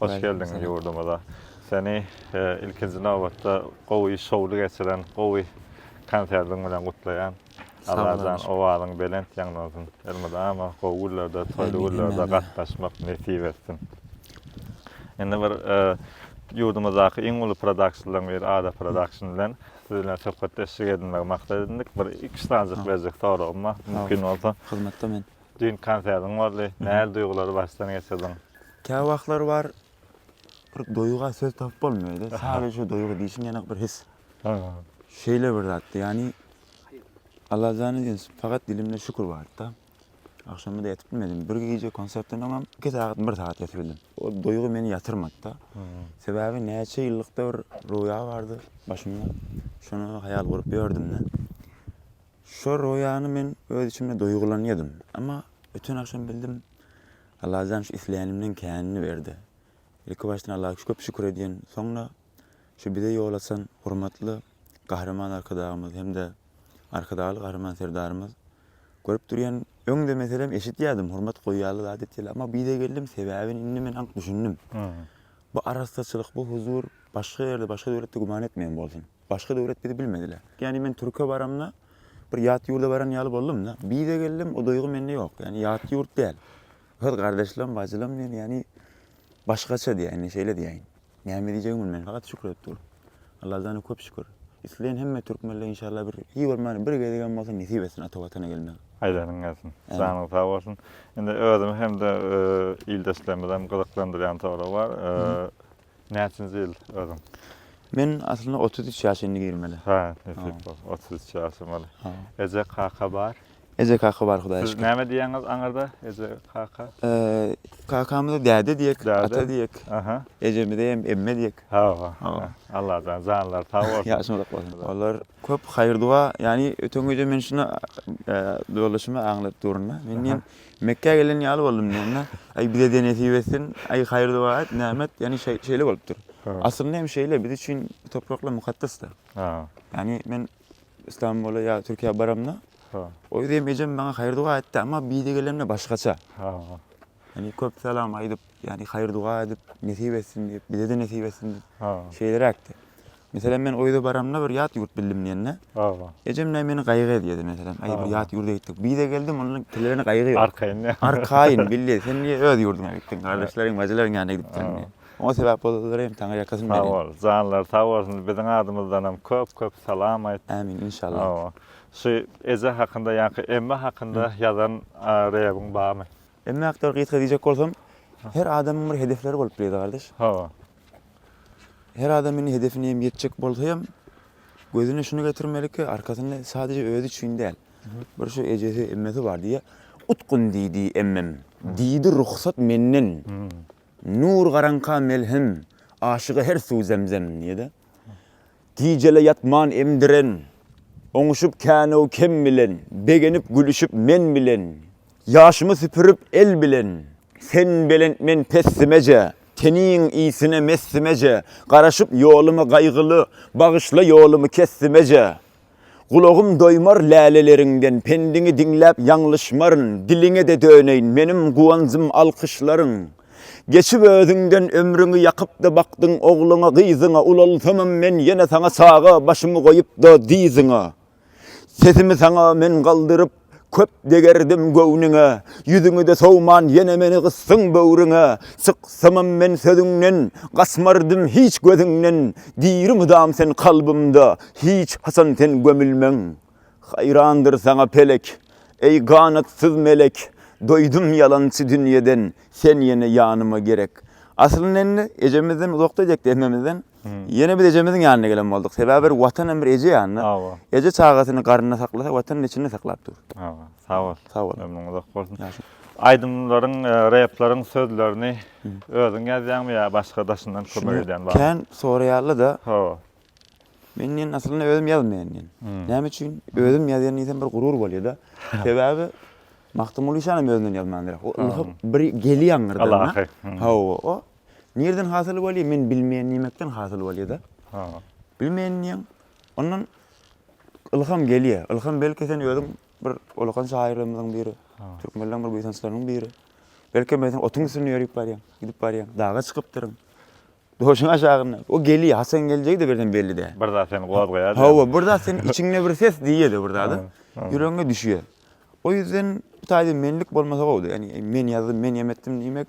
Hoş geldiň ýurdumyza. Seni ilkinji nobatda gowy şowly geçiren gowy konsertiň bilen gutlaýan. Allajan owazyň belent ýaňlansyn. Elmydama gowy günlerde, toýly günlerde gatnaşmak nesip etsin. Indi bir ýurdumyzdaky iň uly produksiýalaryň biri Ada production bilen siz bilen söhbetdeşlik edinmegi maksat edindik. Bir iki sanjyk berjek soragym bar. Mümkin bolsa. Hyzmatda men. Düýnki konsertiň boldy. Nähili duýgulary başdan geçirdiň? Käwagtlar bar, bir duýga söz tapyp bolmaýar-da. Sadece duýgy diýşiň ýanak bir his. Şeýle bir zatdy, ýagny Allajan üçin fakat dilimde şükür bardy-da. Agşamyda ýatyp bilmedim. Bir gije konsertden öňem iki sagat, bir sagat ýatyp bildim. O duýgy meni ýatyrmady-da. Sebäbi näçe ýyllykda bir roýa bardy başymda. Şony haýal gurup ýördüm-de. Şo roýany men öz içimde duýgulanýadym. Emma öten agşam bildim, Allajan şu isleýänimden känini berdi. Ilki başdan Alla köp şükür edýän, soňra şu bize ýol açan hormatly Gahryman Arkadagymyz hem-de Arkadagly Gahryman Serdarymyz. Görüp durýan, öň-de meselem eşitýädim, hormat goýýarlar zat etýärler, emma bide geldim, sebäbini indi men anyk düşündim. Bu arassaçylyk, bu huzur başga ýerde, başga döwletde güman etmeýän bolsun. Başga döwlet bizi bilmedile. Ýani men türke baramda bir ýat ýurda baran ýaly boldumda. Bize geldim o duýgy mende ýok. Ýani ýat ýurt däl. Öz gardaşlam, bajylam men ýani başgaça diýäýin, şeýle diýäýin. Näme diýjegimi bilmen fakat şükür edip dur. Alladana köp şükür. Isleýän hemme türkmenle inşallah bir hiç bolmanda bir gezegem bolsa nesip etsin ata watana gelmek. Aýdanyň gelsin. Janyň sag bolsun. Indi özümi hem-de ildeşlerimizi hem gyzyklandyrýan sorag bar. Näçinji ýyl özüň? Men aslynda otuz üç ýaş indi girmeli. Hä, nesip bol. Otuz üç ýaşyň ol. Eje, kaka bar? Eje, kaka bar Hudaýa şükür. Siz näme diýýäňiz aňyrda? Eje, kaka? Kakamyza däde diýek, ata diýek. Ejemize hem emme diýek. Hawa. Allajan janlary sag bolsun. Ýaşyň uzak bolsun. Olar köp haýyr-doga, ýagny öten gije men şuny ýoldaşyma aňladyp durun-da. Men diýen, Mekgä gelen ýaly boldum diýende, Aý, bize-de nesip etsin, aý, haýyr-doga et, näme et, ýagny şeýle bolupdyr. Aslynda hem şeýle, biz üçin bu topraklar mukaddes-de. Ýagny men Istanbula ýa Türkiýä baramda, o ýerde hem ejem maňa haýyr-doga etdi, emma bu ýere gelemde başgaça. Ýagny köp salam aýdyp, ýagny haýyr-duga edip, nesip etsin diýip, bize-de nesip etsin diýip, şeýleräkdi. Meselem, men o ýere baramda bir ýat ýurt bildim diýende, ejem näme meni gaýgy edýärdi, meselem, aý, bir ýat ýurda gitdik. Bize geldim, onda tillerine gaýgy ýok. Arkaýyn. Arkaýyn, bilýä, sen niýe öz ýurduňa gitdiň, gardaşlaryň, bajylaryň ýanyna gidip sen diýip. Oňa sebäp bolanlara hem Taňry ýakasyn bersin. Sag bol, janlary sag bolsun, biziň adymyzdan hem köp-köp salam aýt. Ämin, inşallah. Hawa. Şu eje hakynda, ýaňky emme hakynda ýazan reýabyň barmy? Emma aktor gysga diýjek bolsam, her adamyň bir hedefleri bolup bilýär-de gardaş. Hawa. Her adam indi hedefine hem ýetjek bolsa hem gözüne şuny getirmeli ki, arkasynda sadece özi üçin däl. Bir şu ejesi, emmesi bar diýýä. Utgun diýdi emmem. Diýdi ruhsat menden. Nur garaňka melhem, aşyga her suw zemzem diýýä-de. Gijele ýatman emdiren, Oňuşyp kän-ow kem bilen, Begenip gülüşip men bilen, Ýaşymy süpürip el bilen. Sen belent men pessimeje, Teniň ysine messimeje, Garaşyp ýoluma gaýgyly, Bagyşla ýolumy kessimeje. Gulagym doýmar läleleriňden Pendiňi diňläp ýalňyşmaryn Diliňe-de döneýin Meniň guwanjym alkyşlaryň Geçip özüňden ömrüňi Ýakyp-da bakdyň ogluňa gyzyňa Ulalsamam men ýene saňa Çaga başymy goýup-da dyzyňa Sesimi saňa men galdyryp Köp degerdim göwnüňe, Ýüzüňi-de sowman ýene meni gysdyň böwrüňe. Syksymam men sözüňden, Gaçmardym hiç gözüňden, Diri mydam sen kalbymda, Hiç haçan sen gömülmäň. Haýrandyr saňa pelek, Eý ganatsyz melek, Doýdum ýalançy dünýeden, Sen ýene ýanyma gerek. Aslynda indi ejemizden uzakda edekde hemmemizden. Ýene biz ejemiziň ýanyna gelen bolduk. Sebäbi bir watan hem bir eje ýanyna. Hawa. Eje çagasyny garnynda saklasa, watanyny içinde saklap dur. Hawa. Sag bol. Sag bol. Ömrüň uzak bolsun. Aýdymlaryň, e, repleriň sözlerini özüň ýazýaňmy ýa başga daşyndan kömek edýän barmy? Kän soraýarlar-da. Hawa. Men diýen aslynda özüm ýazmaýan diýen. Näme üçin? Özüm ýazýan diýsem bir gurur bolýar-da. Sebäbi Magtymguly şanam özünden ýazmandyr. O ylham bir gelýär aňyrdan. Hawa. O Nirden hasyl bolýa men bilmeýän diýmekden hasyl bolýada. Ha. Bilmeýän diýen. Ondan ylham gelýä. Ylham belki sen özüň bir olakan şahyrlarymyzyň biri. Ha. Türkmenleriň bir buýsançlarynyň biri. Belki men sen otuň üstünde ýörüp barýan, gidip barýan. Daga çykypdyryň. Döşüň aşagynda. O gelýä. Haçan geljegi de birden belli däl. Bir zat seni gozgaýa. Hawa, bir zat sen içiňde bir ses diýýä-de bir zat. Ýüregiňe düşýä. O ýüzden taýda menlik bolmasa gowdy. Ýani men ýazdym, men ýem etdim diýmek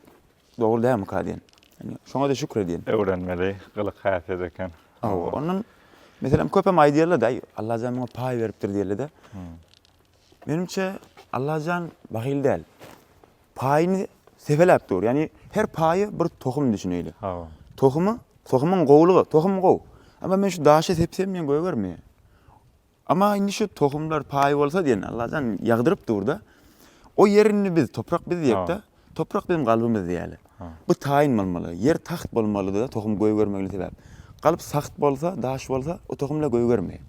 Dogry dälmika diýen. Şoňa-da şükür edýän. Öwrenmeli gylyk-häsiýet eken. Hawa, ondan meselem köpem aýdýarlar-da, aý, Allajan muňa paý beripdir diýerler-de. Menimçe, Allajan bahyl däl. Paýyny sepeläp dur. Ýagny her paýy bir tohum düşüneýli. Hawa. Tohumy, tohumyň gowulygy, tohum gowy. Emma men şu daşy sepsem men gögermi? Emma indi şu tohumlar paý bolsa diýen Allajan ýagdyryp dur-da. O ýer indi biz, toprak biz diýek-de. Toprak biziň galbymyz diýeli. Bu taýyn bolmaly. Ýer tagt bolmalydyr-da, tohum gögermegini sebäp. Galp sagt bolsa, daş bolsa, o tohum-la gögermeýär.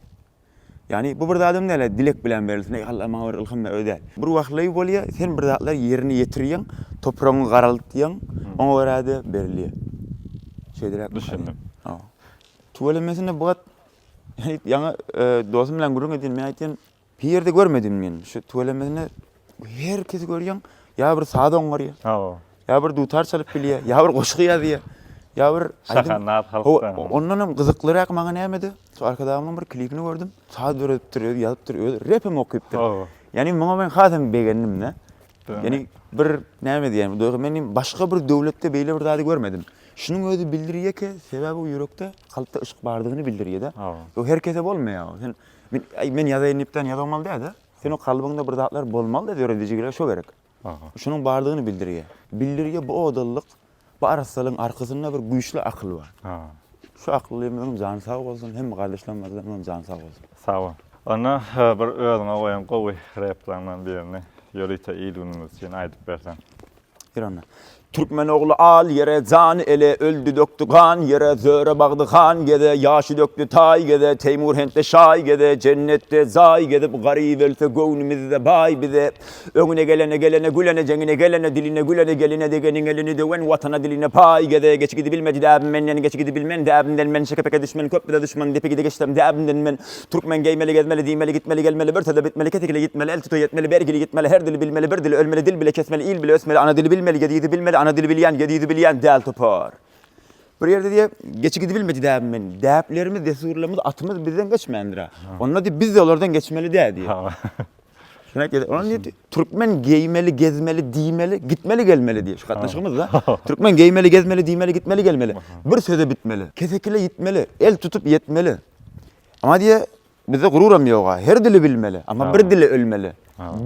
Ýagny bu bir zadam däl-ä dilek bilen berilsin, eý Alla maňa bir ylham ber, öý däl. Bir wagtlaý bolýar, sen bir zatlar ýerine ýetirýäň, topragyňy garaltýaň, oňa görä-de berilýär. Şeýdiräkmi? Düşündim. Tüweleme sende bu gat Heyt ýaňy dosum bilen gürrüň edin men aýtdym. Bir ýerde görmedim men. Şu tüwelemesine her kesi görýän ýa bir saz oňarýar. Hawa. Ýa bir dutar çalyp bilýär, ýa bir goşgy ýazýar. Ýa bir şahanat halkda. Ondan hem gyzyklyrak maňa nämedi? Şu arkadagymyň bir klipini gördüm. Saz döredipdir, özi ýazypdyr, özi rep hem okypdyr. Hawa. Ýani muňa men has hem begendim-de. Ýani bir näme diýýän, men başga bir döwletde beýle bir zady görmedim. Şunuň özi bildirýäke, sebäbi bu ýürekde, kalpda yşk bardygyny bildirýär-de. Bu her kese bolmaýar. Sen, men, äý, men ýazaýyn diýip däl ýazamaly däl-de. Sen o kalbyňda bir zatlar bolmaly-da döredijiligi şo gerek. Şunuň bardygyny bildirýär. Bildirýär bu odallyk, bu arassalygyň arkasynda bir güýçli akyl bar. Şu aklymyzyň jany sag bolsun, hemme gardaşlarymyzyňam jany sag bolsun. Sag bol. Onda bir özüňe goýan gowy replarňdan birini ýörite il-günümiz üçin aýdyp berseň. Türkmen ogly al ýere jan ele, Öldi dökdi gan ýere, Zöre bagdy han geze, Ýaşy dökdi taý geze, Teýmur hentde şaý geze, Jennetde jaý gezip, Garyp ölse göwnümizde baý bize. Öňüne gelene, gelene gülene, Jeňine gelene, diline gülene, Geline degeniň elini döwen, Watana diline paý geze. Geçi gidibilmedi däbim menden, Geçi gidibilmen däbimden men, Şeke-peke düşmen köp bize duşman, Depe-gide geçsem däbimden men, Türkmen geýmeli gezmeli diýmeli gitmeli gelmeli bir söze bitmeli kesikli ýitmeli el tuta ýetmeli bergili ýitmeli her dili bilmeli bir dili ölmeli dil bile kesmeli il bile ösmeli ana dili bilmeli ýedi ýüzi bilmeli ana dili bilýän ýedi ýüzi bilýän däl topar bir ýerde diýe geçi gidibilmedi däbim men däplerimiz dessurlarymyz atymyz bizden geçmändir-ä onda diýe biz-de olardan geçmeli-dä diýe. Şunaýt ýa-da onuň nirdi? Türkmen geýmeli, gezmeli, diýmeli, gitmeli, gelmeli diýip şu gatnaşygymyzda. Türkmen geýmeli, gezmeli, diýmeli, gitmeli, gelmeli. Bir söze bitmeli. Kesekile ýitmeli, el tutup ýetmeli. Emma diýýär, bizde gururam ýog-a. Her dili bilmeli, emma bir dile ölmeli.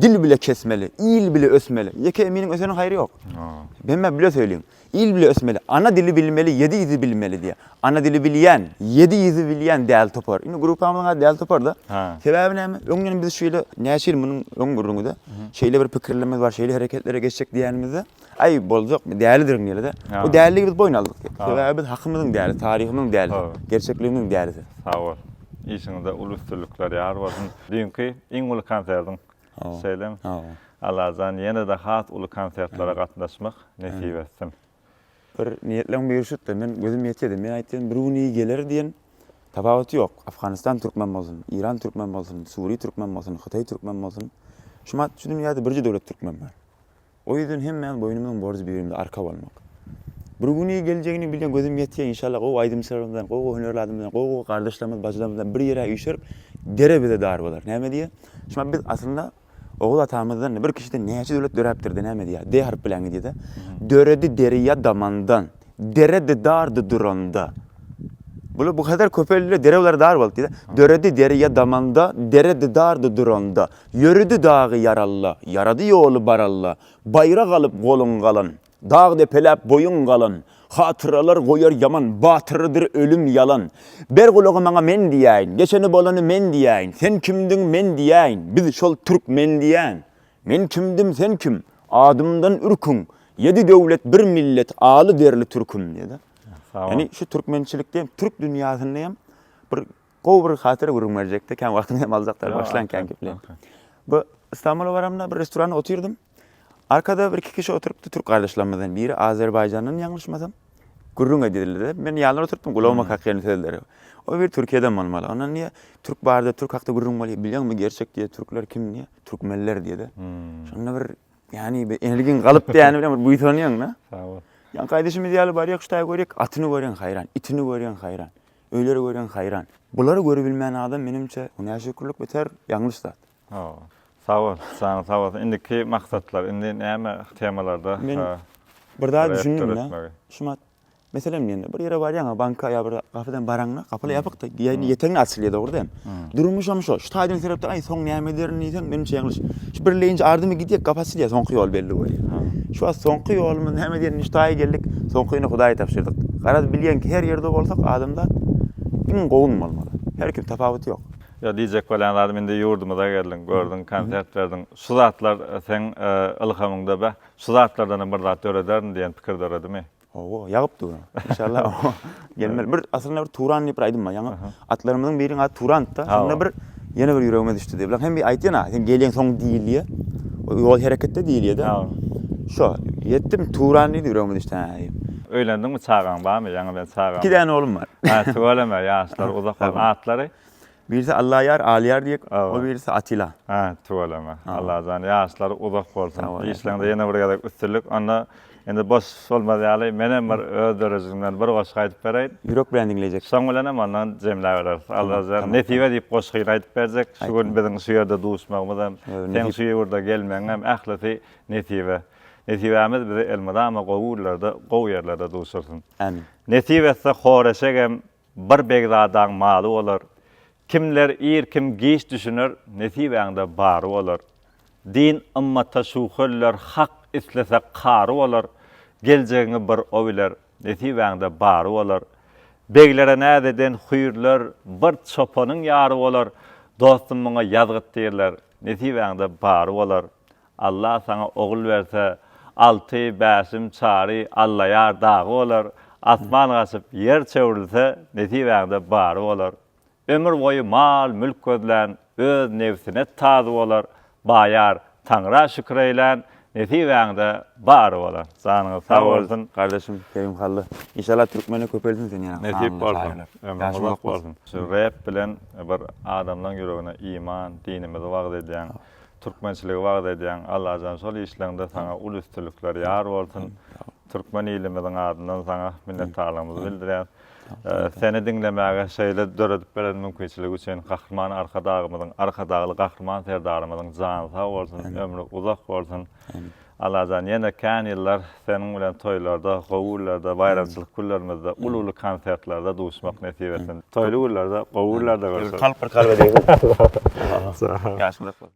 Dil bile kesmeli, il bile ösmeli. Ýeke eminiň öseniň haýry ýok. Hemmä bile söýliň. Il bile ösmeli, ana dili bilmeli, ýedi ýüzi bilmeli diýýär. Ana dili bilýän, ýedi ýüzi bilýän däli topar. Indi gruppamyzyň ady Däli topar-da. Sebäbi näme? Öň ýene biz şeýle, näçe ýyl munuň öň gürrüňi-de, şeýle bir pikirlerimiz bar, şeýle hereketlere geçjek diýenimizde, Aý, boljak, dälidirin diýerler-de. O däliligi biz boýun aldyk. Sebäbi biz hakymyzyň dälisi, taryhymyzyň dälisi, gerçekligimiziň dälisi. Sag bol. Işiňizde uly üstünlikler ýar bolsun. Düýnki iň uly konsertiň Şeýle-m Allajan ýene-de has uly konsertlere gatnaşmak nesip etsin. Bir niýetleň birşutda men gözüm ýetýädi. Men aýtýan bir gün iyi geler diýen tapawuty ýok. Afganistan türkmen bolsun, Iran türkmen bolsun, Suriýa türkmen bolsun, Hytaý türkmen bolsun. Şu dünýäde birje döwlet türkmen bar. O ýüzden hemmämiz boýnumyzyň borjy birimize arka bolmak. Bir güni geljegini bilýän gözüm ýetýär inşallah gowy aýdymçylarymyzdan gowy gowy hünärli adamlardan gowy gowy gardaşlarymyz bajylarymyzdan bir ýere üýşerip dere bize dar bolar näme diýýä şumat biz aslynda Oguz atamyzdan bir kişiden näçe döwlet döräpdir de näme diýýä D harp bilen gidýäda döredi derýa damandan dere di dar di duranda bular bu kadar köpeldiler dere bulara dar boldy diýýä döredi derýa damanda dere di dar di duranda Ýöredi dagy ýaralla, Ýarady ýoly baralla, Baýrak alyp goluň galan, Dag depeläp boýuň galan, Hatyralar goýar ýaman, Batyrydyr ölüm ýalan. Ber gulagy maňa men diýäýin, Geçeni bolany men diýäýin, Sen kimdiň men diýäýin, Biz şol türkmen diýäýin. Men kimdim sen kim, Adymdan ürküň, Ýedi döwlet bir millet, Aly derli türküm diýýär-de. Ýagny şu türkmençilikde hem türk dünýäsinde hem bir Gowy bir hatyra gürrüň berjekdi. Kän wagtyňyzy hem aljakdyr. Başlaň kän gepleň. Bu Istanbula baramda bir restoranda otyrdym. Arkada bir iki kişi oturypdy türk gardaşlarymyzdan. Biri Azerbaýjandan ýalňyşmasam. Gürrüň edýärler. Men ýanlar oturypdym. Gulagyma kakýan sözleri. O biri Türkiýeden bolmaly. Ondan diýýär, Türk barda, türk hakda gürrüň bolýar. Bilýäňmi gerçek diýýär, türkler kim diýýär. Türkmenler diýýär-de. Şonda bir ýany bir energiň galyp diýýäni bilen bir buýsanýaň-da. Sag bol. Ýaňky aýdyşymyz ýaly barýak şu taýy görýäk, atyny görýäň haýran, itini görýäň haýran. Öýleri görýän haýran. Bulary görübilmän adam menimçe bu näşükürlik beter ýalňyş zat. Hawa. Sagbol janyň sag bolsun. Indiki maksatlar indi näme temalarda Men bir zat düşündimda Şumat meselem diýende bir ýere barýaňa banka ýa bir gapydan baraňda gapylar ýapykda ýetegiňe açylýar dogryda hem. Durmuşam şo. Şu taýdan seretde, aý, soň näme ederin diýseň, menimçe ýalňyş. Şu birleýinji ardymy gidýek, gap açylýar, soňky ýol belli bolýar. Şu wagt soňky ýolumyz näme ederin, şu taýa geldik, soňkyny Hudaýa tabşyrdyk. Garaz, bilýän ki, her ýerde bolsak, adamzat iň gowun bolmaly. Her kim, tapawudy ýok. Ýok, diýjek bolýan zadym, indi ýurdumyza geldiň, gördüň, konsert berdiň. Şu zatlar seň ylhamyňda, Beh, şu zatlardanam bir zat dörederin diýen pikir döredimi? Owo, ýagyp dur. Inşallah. Gelmeli. Bir aslynda bir Turan diýip bir aýdym bar. Ýaňy atlarymyzyň biriniň ady Turandy-da. Şonda bir ýene bir ýüregime düşdi diýip. Bilen hem bir aýtýan-a, sen gelýäň soň diýilýä. Ýol hereketde diýilýä-de. Şo, ýetdim Turan diýdi, ýüregime düşdi hä diýip. Öýlendiňmi, çagaň barmy? Ýaňy bilen çagam. Iki däne oglum bar. Hä, tüweleme, ýaşlary uzak bolsun. Atlary? Birisi Allaýar, Aliýar diýek, o birisi Atila. Hä, tüweleme. Allajan ýaşlary uzak bolsun. Işleňde ýene bir gezek üstünlik. Onda indi boş bolmaz ýaly menem bir öz dörejigimden bir goşgy aýdyp bereýin. Ýürek bilen diňlejek. Şoň bilenem onda jemläbereris. Allajan nesip edip goşgyny aýdyp berjek. Şu gün biziň şu ýerde duşmagymyz hem, seň şu ýurda gelmegiň hem ählisi nesibe. Nesibämiz bizi elmydama gowy günlerde, gowy ýerlerde duşursun. Ämin. Nesip etse Horeşegem. Bir begzadaň maly bolar. Kimler ir, kim giç düşüner, nesibäňde bary bolar. Din ymmata şuwhöllar, hak islese kary bolar, geljegiňi bir o biler, nesibäňde bary bolar. Beglere näz eden hüýrler, bir çopanyň ýary bolar, dostum muňa ýazgyt diýerler, nesibäňde bary bolar. Allah saňa ogul berse, Alty, Bäşim, Çary, Allaýar dagy bolar, Asman gaçyp, ýer çöwrülse, nesibäňde bary bolar. Ömür boýy mal-mülk gözlän, öz nebsine tazy bolar, Baýar, Taňra şükür eýlän, nesibäňde bary bolar. Janyňyz sag bolsun. Gardaşym, Kerimhally. Inşallah türkmene köpelsin seň ýaly Nesip bolsun. Ömrüň uzak bolsun. Şu rep bilen bir adamlaň ýüregine iman, dinimizi wagyz edýäň. Türkmençiligi wagyz edýäň Allajan şol işleňde saňa uly üstünlikler ýar bolsun Türkmen ilimiziň adyndan saňa minnetdarlygymyzy bildirýäs Seni diňlemäge şeýle döredip beren mümkinçiligi üçin Gahryman Arkadagymyzyň Arkadagly Gahryman Serdarymyzyň jany sag bolsun ömri uzak bolsun Allajan ýene kän ýyllar seniň bilen toýlarda gowy günlerde baýramçylyk günlerimizde uly uly konsertlerde duşmak nesip etsin toýly günlerde gowy günlerde görşeliň.